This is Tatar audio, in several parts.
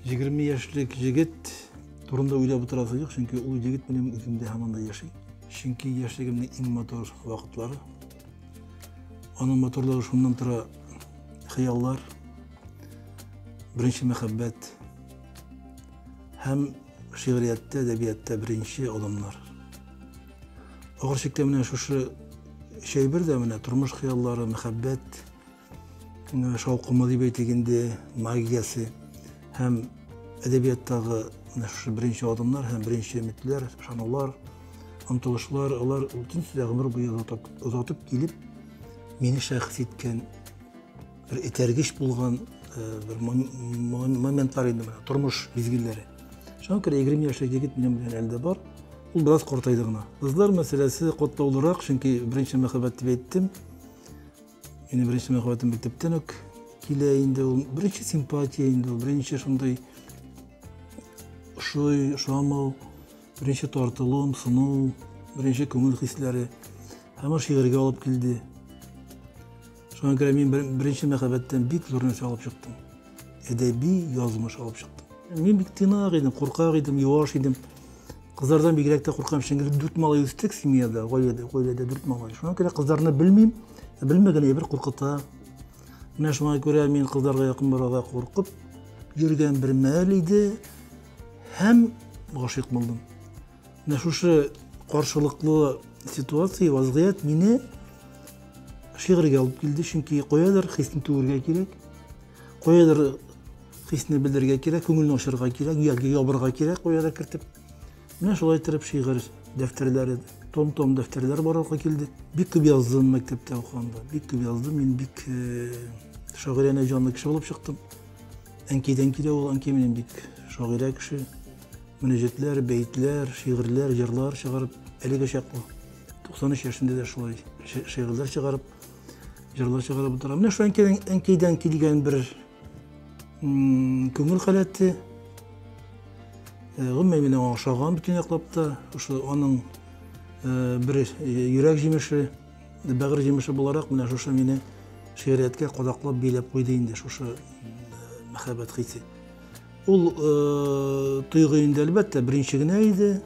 Егерме яшьлек егет турында уйлап утырасы юк, чөнки ул егет минем үземдә һаман да яши. Чөнки яшьлегемнең иң матур вакытлары. Аның матурлыгы шуннан тора хыяллар, беренче мәхәббәт һәм шигъриятта, әдәбиятта беренче алымнар. Ахыр чиктә менә шушы чәйбер дә менә тормыш хыяллары, мәхәббәт, Шаукымы дип әйтик инде, магиясе һәм әдәбияттагы шушы беренче адымнар һәм беренче өметләр, ышанулар, омтылышлар, алар бөтен сүзләр гомер буе озатып, озатып килеп, мине шәхес иткән, бер этәргеч булган бер моментлар инде менә, тормыш мизгелләре. Шуңа күрә 20 яшьлек егет минем белән әле дә бар. Ул бераз картайды гына. Кызлар мәсьәләсе катлаулырак, чөнки беренче мәхәббәт дип әйттем. Минем беренче мәхәббәтем мәктәптән үк килә инде ул. Беренче симпатия инде ул, беренче шундый ошый, ошамау, беренче тартылуым, сыну, беренче күңел хисләре. Һәм ул шигырьгә алып килде. Шуңа күрә мин беренче мәхәббәттән бик зур нәрсә алып чыктым. әдәби язмыш алып чыктым. Мин бик тыйнак идем, куркак идем, юаш идем. Кызлардан бигрәк тә куркам, чөнки дүрт малай үстек семьяда, гаиләдә, гаиләдә дүрт малай. Шуңа күрә кызларны белмим, белмәгән әйбер куркыта. Менә шуңа күрә мин кызларга якын барырга куркып йөргән бер мәл иде һәм гашыйк булдым. Менә шушы каршылыклы ситуация, вазгыять мине шигырьгә алып килде, чөнки каядыр хисне түгергә кирәк, каядыр хисне белдерергә кирәк, күңелне ачарга кирәк, яки ябырга кирәк, каядыр кертеп. Менә шулай итеп шигырь дәфтәрләре, том-том дәфтәрләр барырга килде. Бик күп яздым мәктәптә укыганда, бик күп яздым, мин бик э, шагыйрәне җанлы кеше булып чыктым. Әнкидән килә ул, әнкәй минем бик шагыйрә кеше. мөнәҗәтләр, бәетләр, шигырьләр, җырлар чыгарып, әлеге чаклы 93 яшендә дә шулай шигырьләр чыгарып, җырлар чыгарып утыра. Менә шул әнкәйдән килгән бер күңел халәте, гомумән генә ошаган бөтен яклап та, ошо аның бер йөрәк җимеше, бәгырь җимеше буларак менә шушы мине шигърияткә кадаклап биләп куйды инде шушы мәхәббәт хисе. Ул тойгы инде, әлбәттә, беренче генә иде.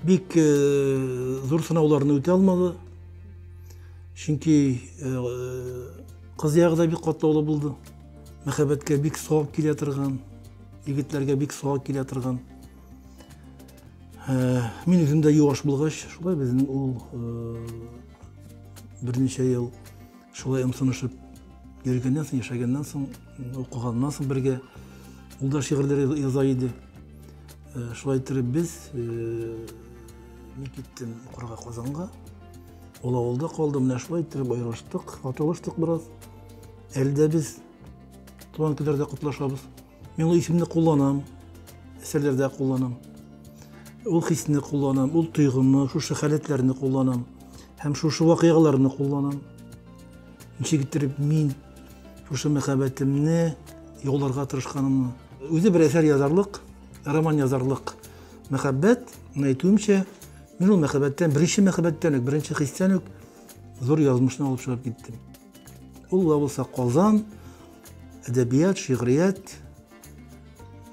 Бик зур сынауларны үтә алмады. Чөнки кыз ягы да бик катлаулы булды. Мәхәббәткә бик сак килә торган, егетләргә бик сак килә торган. Мин үзем дә юаш булгач, шулай безнең ул берничә ел Шулай ымсынышып йөргәннән соң, яшәгәннән соң, укыганнан соң бергә ул да шигырьләр яза иде. Э, шулай иттереп без э, мин киттем укырга Казанга. Ул авылда калды, менә шулай иттереп аерылыштык, аталыштык бераз. Әлдә без туган көйләрдә котлашабыз. Мин ул исемне кулланам, әсәрләрдә кулланам. Ул хисне кулланам, ул тойгымны, шушы халәтләрне кулланам. Һәм шушы вакыйгаларны кулланам. Ничек иттереп мин шушы мәхәббәтемне яуларга тырышканымны. Үзе бер әсәр язарлык, роман язарлык мәхәббәт, әйтүемчә, мин ул мәхәббәттән, беренче мәхәббәттән үк, беренче хистән үк зур язмышны алып чыгып киттем. Ул да булса Казан, әдәбият, шигърият,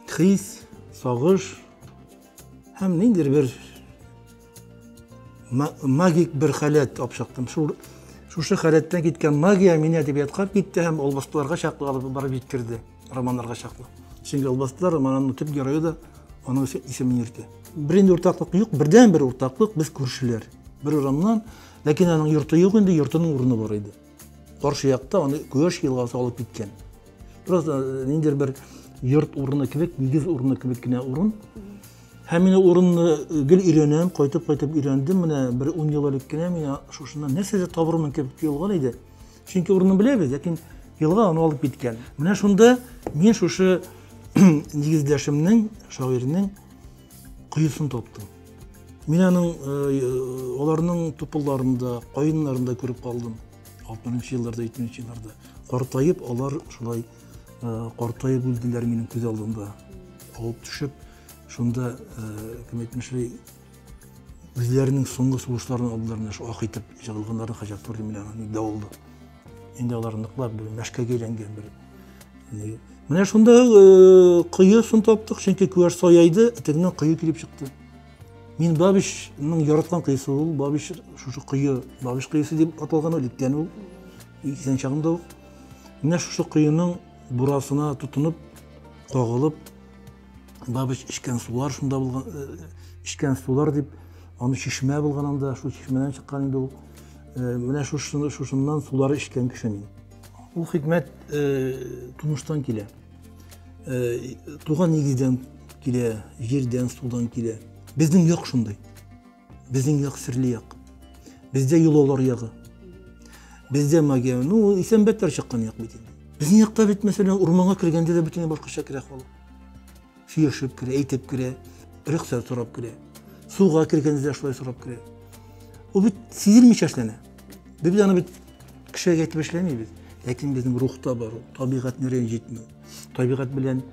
хис, сагыш һәм ниндидер бер магик бер халәт алып чыктым. Шул шушы халәттән киткән магия мине әдәбиятка китте һәм албастыларга чаклы алып барып җиткерде, романнарга чаклы. Чөнки албастылар романының төп герое да аның исемен йөртә. Беренче уртаклык юк, бердән бер уртаклык без күршеләр. Бер урамнан Ләкин аның йорты юк инде, йортының урыны бар иде. Каршы якта аны Көяш елгасы алып киткән. Бераз э, ниндер бер йорт урыны кебек, нигез урыны кебек кенә урын. Һәм мин урынны э, гел өйрәнәм, кайтып-кайтып өйрәндем. Менә бер 10 ел элек кенә мин шушыннан нәрсәдер табырмын кебек тоелган иде. Чөнки урынны беләбез, ләкин елга аны алып киткән. Менә шунда мин шушы нигездәшемнең, шагыйрьнең Коесын таптым. Мин аның аларның тупылларында, каеннарында күреп калдым. 60 елларда, 70 елларда. Картаеп алар шулай картаеп үлделәр минем күз алдында. Авып төшеп, шунда кем әйтмешли, үзләренең соңгы сугышларын алдылар менә шул ак итеп җыгылганнарын хаҗәт туры менә дә Инде алар ныклап бер мәшкәгә әйләнгән бер. Менә шунда э, кое сон таптык, чөнки күәш саяйды, этегеннән кое килеп чыкты. Мин Бабичның яраткан кыйсы ул, Бабич шушы кое, Бабич кыйсы дип аталган ул, иткән ул. Исән чагында ук. Менә шушы коеның бурасына тотынып, кагылып, Бабыч эчкән сулар шунда булган, э, эчкән сулар дип, аны чишмә булган анда, шул чишмәдән чыккан инде ул. Э, менә шушыны, шушыннан сулар эчкән кеше мин. Ул хикмәт э, тумыштан килә. Туган нигездән килә, җирдән, судан килә. Безнең як шундый. Безнең як серле як. Бездә йолалар ягы. Бездә магия. Ну, исәнбәттәр чыккан як бит инде. Безнең якта бит, мәсәлән, урманга кергәндә дә бөтенләй башкача керә халык. Сөйләшеп керә, әйтеп керә, рөхсәт сорап керә. Суга кергәндә дә шулай сорап керә. Ул бит сизелмичә эшләнә. Без бит аны бит кешегә әйтеп эшләмибез. Ләкин безнең рухта бар ул, табигатьне рәнҗетмәү. Табигать белән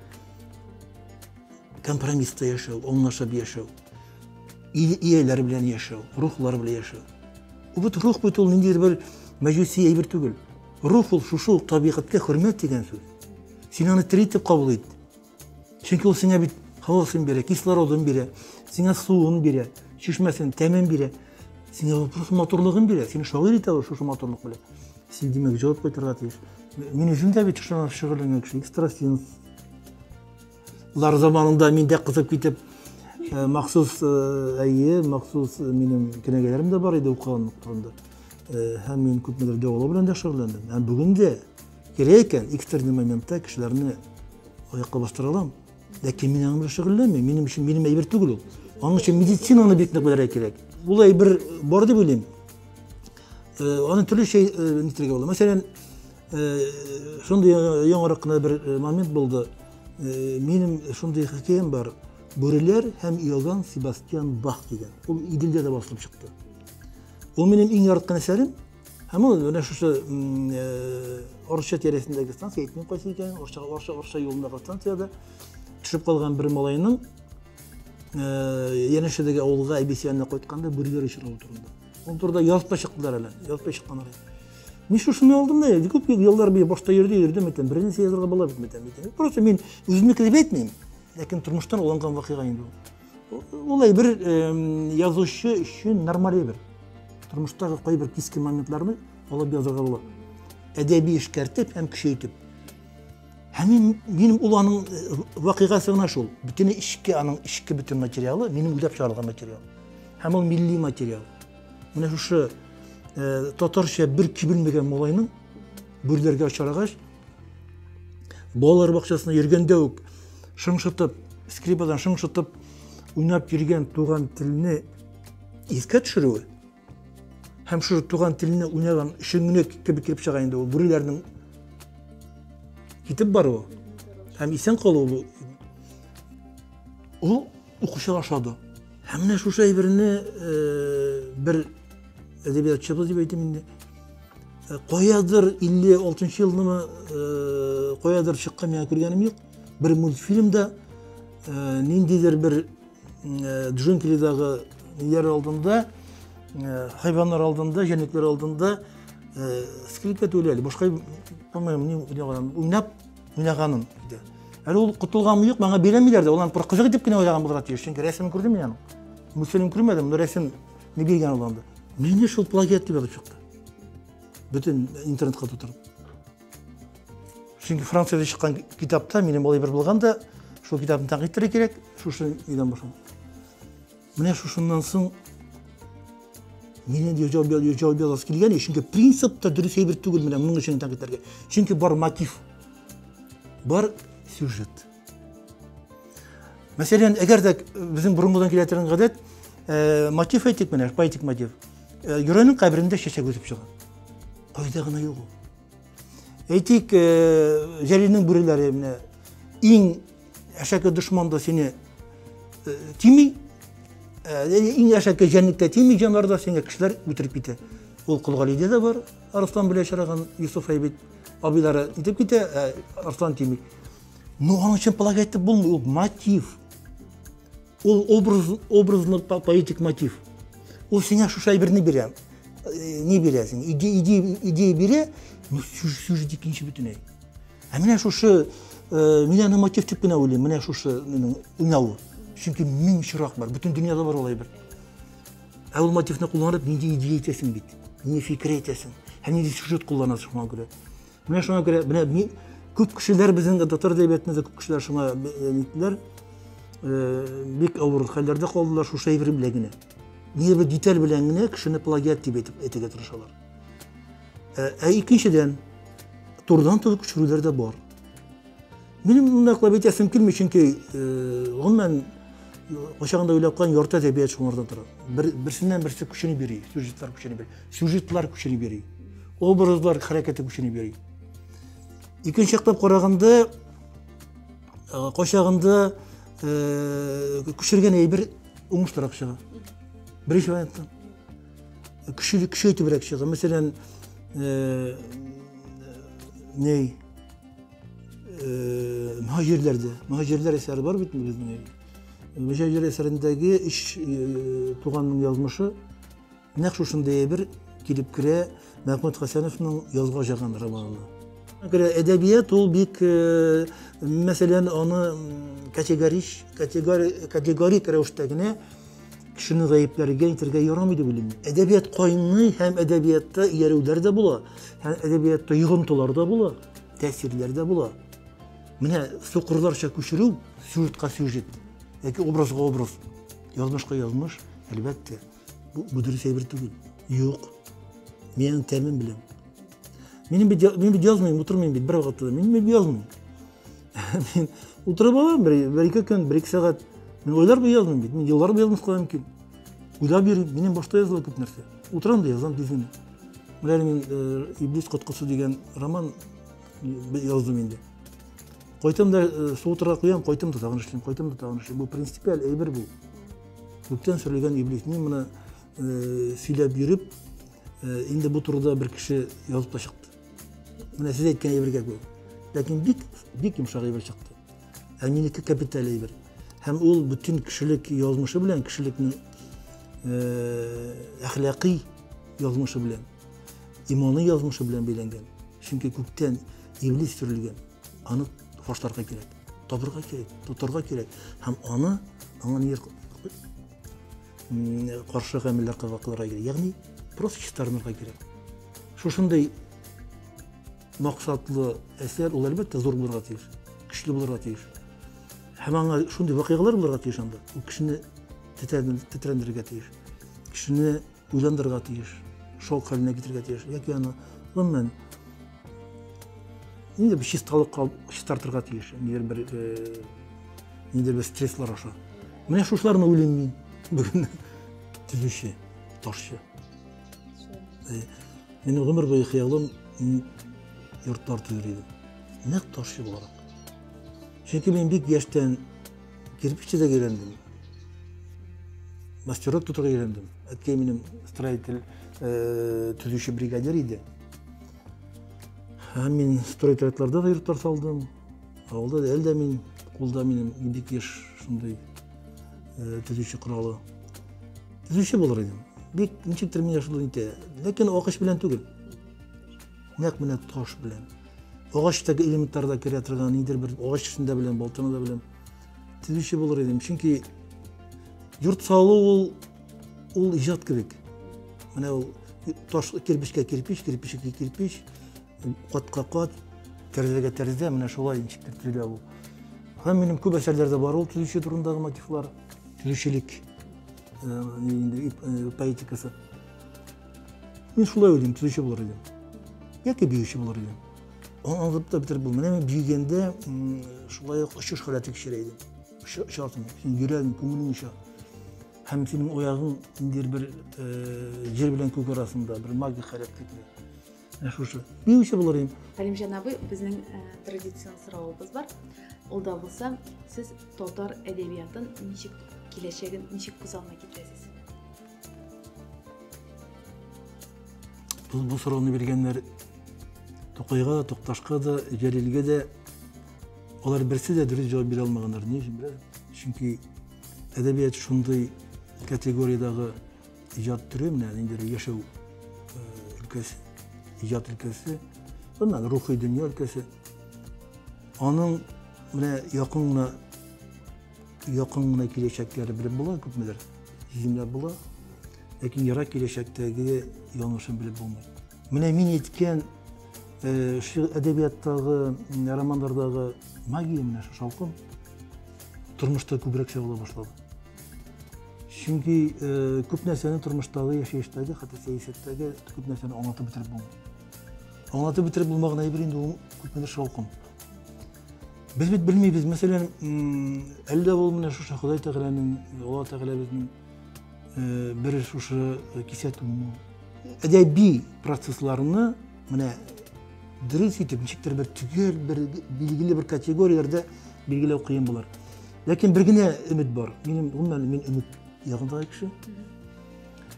компромисста яшәү, аңлашып яшәү. ияләр белән яшәү, рухлар белән яшәү. Бит рух бит ул ниндидер бер мәҗүси әйбер түгел. Рух ул шушы ук табигатькә хөрмәт дигән сүз. Син аны тери итеп кабул ит. Чөнки ул сиңа бит һавасын бирә, кислородын бирә, сиңа суын бирә, чишмәсен, тәмен бирә. Сиңа ул просто матурлыгын бирә. Сине шагыйрь итә ул шушы матурлык белән. Син димәк җавап кайтарга тиеш. Мин үзем дә бит шушы шөгыльләнгән кеше, экстрасенс, Лар заманында мин дә кызып китеп, э, махсус, э, әйе, махсус э, минем кенәгәләрем дә бар иде укыган вакытында. Э, һәм мин күпмедер дәвалау белән дә шөгыльләндем. Һәм бүгін дә кирәк икән, экстренный моментта кешеләрне аякка бастыра алам. Ләкин мин аның белән шөгыльләнмим. Минем өчен минем әйбер түгел ул. Аның өчен медицинаны бик нык белергә кирәк. Ул әйбер бар дип уйлыйм. Э, Аны төрлечә э, нитрәгә була. Мәсәлән, шундый яңарак кына бер момент булды минем шундый хикәям бар бүреләр һәм иоганн себастьян бах дигән ул иделдә дә басылып чыкты ул минем иң яраткан әсәрем һәм ул менә шушы орча тирәсендәге станция әйтмим кайсы икәнен орча орча орча юлындагы станциядә төшеп калган бер малайның янәшәдәге авылга әбисе янына кайтканда бүреләр очравы турында Ул турыда язып та чыктылар әле, язып та чыкканнар. Мин шушыны алдым да, күп еллар бер башта йөрде, йөрдем бит, бер нәрсә язырга була бит бит. Просто мин үземнеке дип әйтмим, ләкин тормыштан алынган вакыйга инде ул. Улай бер язучы өчен нормаль бер. Тормыштагы кайбер кискен моментларны алып язырга була. Әдәби эшкәртеп һәм көчәйтеп. Һәм мин, минем ул аның э, вакыйгасы гына шул. Бөтен эчке, аның эчке бөтен материалы, минем уйлап чыгарылган материал. Һәм ул милли материал. Менә шушы э, татарча бер кибелмәгән малайның бүрләргә очрагач, балалар бакчасына йөргәндә үк шыңшытып, скрипадан шыңшытып уйнап йөргән туган телне искә төшерүе, Һәм шушы туган телне уйнаган өчен генә кебек килеп чыга инде ул бүреләрнең китеп баруы һәм исән калуы ул укучы ашады. Һәм менә шушы әйберне э, бер әдәбиятчыбыз дип әйтим инде э, каядыр 56 елнымы э, каядыр чыккан миңа күргәнем юк бер мультфильмда ниндидер бер Э, джунглидагы ниләр алдында э, хайваннар алдында жәнлекләр алдында э, скрипка түләли башка алмыйм ни уйнаганын уйнап уйнаганын диде әле ул котылганмы юк маңа бирәмиләр дә ул аны бер кызык итеп кенә уйнаган булырга тиеш чөнки рәсемен күрдем мин аның мультфильм күрмәдем но рәсем не биргән ул анда мине шул плагиат дип язып чыкты бөтен интернетка тутырып Чөнки Франциядә чыккан китапта минем болай бер булган да, шул китапны тәнкыйть итәргә кирәк, шушы нидән башлап. Менә шушыннан соң Менен ежал бел ежал бел аз килгән, чөнки принцип та дөрес әйбер түгел менә моның өчен тәнкыйть итәргә. Чөнки бар мотив. Бар сюжет. Мәсәлән, әгәр дә безнең борынгыдан килә торган гадәт, э, мотив әйтик менә, поэтик мотив. Э, Юрәнең каберендә чәчәк үсеп чыга. Кайда гына юк ул. Әйтик, э, Җәлилнең бүреләре менә иң әшәке дошман да сине э, тими. Э, иң әшәке җәнлек тә тими җаннар да сине кешеләр үтереп китә. Ул Кулгалиде дә бар, Арслан белән чараган Юсуф әйбит абыйлары итеп китә, ә Арслан тими. Ну, аның өчен полагать булмый, ул мотив. Ул образ, образлы поэтик мотив. Ул сиңа шушы әйберне бирә. Э, не бирә сиңа. Идея, идея, идея бирә, но сюжет икенче бөтенләй. Ә менә шушы, э, мин аны мотив дип кенә уйлыйм, менә шушы минем уйнавы. Чөнки мең очрак бар, бөтен дөньяда бар ул әйбер. Ә ул мотивны кулланып, нинди идея әйтәсең бит, нинди фикер әйтәсең, һәм нинди сюжет кулланасың шуңа күрә. Менә шуңа күрә, менә мин, күп кешеләр безнең татар әдәбиятында да күп кешеләр шуңа нитләр, бик авыр хәлләрдә калдылар шул шәйбер белән генә. Нигә бер деталь белән генә кешене плагиат дип әйтеп әйтергә тырышалар. Ә икенчедән, турдан-тур күчерүләр дә бар. Минем монда кылып әйтәсем килми, чөнки гомумән кочагында уйлап калган ярты әдәбият шуңардан тора. Бер, берсеннән берсе көчене бери, сюжетлар көчене бери, сюжетлар көчене бери, образлар хәрәкәте көчене бери. Икенче яктан караганда кочагында көчергән әйбер уңышлырак чыга. Беренче вариантта. Көче, көчейтебрәк чыга. Мәсәлән, ней мөһаҗирләрдә мөһаҗирләр әсәре бар бит безнең мөһаҗирләр әсәрендәге өч туганның язмышы нәкъ шушындый әйбер килеп керә мәхмүт хәсәновның язга жаган романына Гөрә әдәбият ул бик э, мәсәлән аны категорич категорик рәвештә генә Кешене гаепләргә, әйтергә ярамый дип уйлыйм. Әдәбият кайный һәм әдәбиятта иярүләр дә була, һәм әдәбиятта йогынтылар да була, тәэсирләр дә була. Менә сукырларча күчерү сюжетка сюжет, яки образга образ, язмышка язмыш, әлбәттә, бу, бу дөрес әйбер түгел. Юк. Мин аның тәмен беләм. Мин бит, мин бит язмыйм, утырмыйм бит бер вакытта. Мин бит язмыйм. Мин утырып алам, бер-ике көн, бер-ике сәгать. Мин ойлар буе яздым бит, мин еллар буе язмас кала мөмкин. Уйлап йөрим, минем башта языла күп нәрсә. Утырам да язам тиз генә. Менә мин э, Иблис коткысы дигән роман яздым инде. Кайтам да э, су утырга куям, кайтам да тагын эшлим, кайтам да тагын эшлим. Бу принципиаль әйбер бу. Күптән сүрелгән Иблис. Мин моны э, сөйләп йөреп, инде бу турыда бер кеше язып та чыкты. Менә сез әйткән әйбергә күр. Ләкин бик бик йомшак әйбер чыкты. Ә минеке капиталь әйбер. Һәм ул бөтен кешелек язмышы белән, кешелекнең э, әхлакый язмышы белән, иманы язмышы белән бәйләнгән. Чөнки күктән иблис төрлегән. Аны фашларга кирәк. Табырга кирәк, тотарга кирәк. Һәм аны, аңа нир каршы гамәлләр кылыкларга кирәк ягъни просто чистарынырга кирәк шушындый максатлы әсәр ул әлбәттә зур булырга тиеш көчле булырга тиеш һәм аңа шундый вакыйгалар булырга тиеш анда ул кешене тетрәндерергә тиеш кешене уйландырырга тиеш шок хәленә китерергә тиеш яки аны гомумән инде бер чисталык чистартырга тиеш нидер бер нидер бер стресслар аша менә шушыларны уйлыйм мин бүген төзүче ташчы мин гомер буе хыялым йортлар төзер идем нәкъ ташчы буларак чөнки мин бик яшьтән кирпич төзәргә өйрәндем мастерок тотарга өйрәндем әткәй минем строитель төзүче бригадир иде Һәм мин стройтрядларда да йортлар салдым. Авылда да әлдә мин кулда минем бик еш шундый э, төзүче коралы. Төзүче булыр идем. Бик ничектер мин шул итә. Ләкин акыш белән түгел. Нәкъ менә таш белән. Агачтагы элементлар да керә торган, ниндидер бер агач эшендә белән, балтаны да белән. Төзүче булыр идем. Чөнки йорт салу ул Ул иҗат кебек. Менә ул таш кирпичкә кирпич, кирпичкә кирпич, катка кат, тәрәзәгә тәрәзә, менә шулай ничек төзелә ул. Һәм минем күп әсәрләрдә бар ул төзүче турындагы мотивлар, төзүчелек поэтикасы. Мин шулай уйлыйм, төзүче булыр идем. Яки биюче булыр идем. Аңлатып та бетереп булмый. Менә мин биегәндә шулай ук очыш халәте кичерә идем. Очасың, син йөрәгең, күңелең оча. Һәм синең оягың ниндидер бер җир белән күк арасында, бер магик хәрәкәтле. Ә шушы. Ни үчә булыр инде? Хәлимҗан абый, безнең традицион соравыбыз бар. Ул да булса, сез татар әдәбиятын ничек киләчәген ничек күз алдына китерәсез? Бу, бу сорауны биргәннәр Тукайга да, Тукташка да, Җәлилгә дә Алар берсе дә дөрес җавап бирә алмаганнар. Ни өчен беләсез? Чөнки әдәбият шундый категориядәге иҗат төре, менә инде яшәү өлкәсе, иҗат өлкәсе, аннан рухи дөнья өлкәсе. Аның менә якын гына якын гына киләчәкләре белеп була күпмедер, җимләп була. Ләкин ерак киләчәктәге яңышын белеп булмый. Менә мин әйткән шигырь әдәбияттагы, романнардагы магия менә шул шаукым тормышта күбрәк чагыла башлады. Чөнки күп нәрсәне тормыштагы, яшәештәге, хәтта сәясәттәге күп нәрсәне аңлатып бетереп булмый. Аңлатып бетереп булмаган әйбер инде ул күпмедер шаукым. Без бит белмибез, мәсәлән, әллә ул менә шушы Ходай Тәгаләнең, Алла Тәгалә безнең Э, бер шушы кисәтү әдәби процессларны менә дөрес итеп ничектер бер төгәл бер билгеле бер категорияләрдә билгеләү кыен булыр ләкин бер генә өмет бар минем гомумән мин өмет ягындагы кеше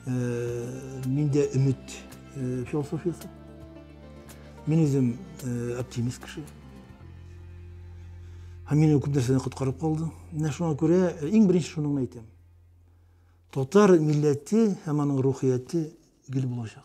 э, миндә өмет э, философиясе Мин үзем э, оптимист кеше. Һәм мине күп нәрсәдән коткарып калды. Менә шуңа күрә э, иң беренче шуны әйтәм. Татар милләте һәм аның рухияте гел булачак.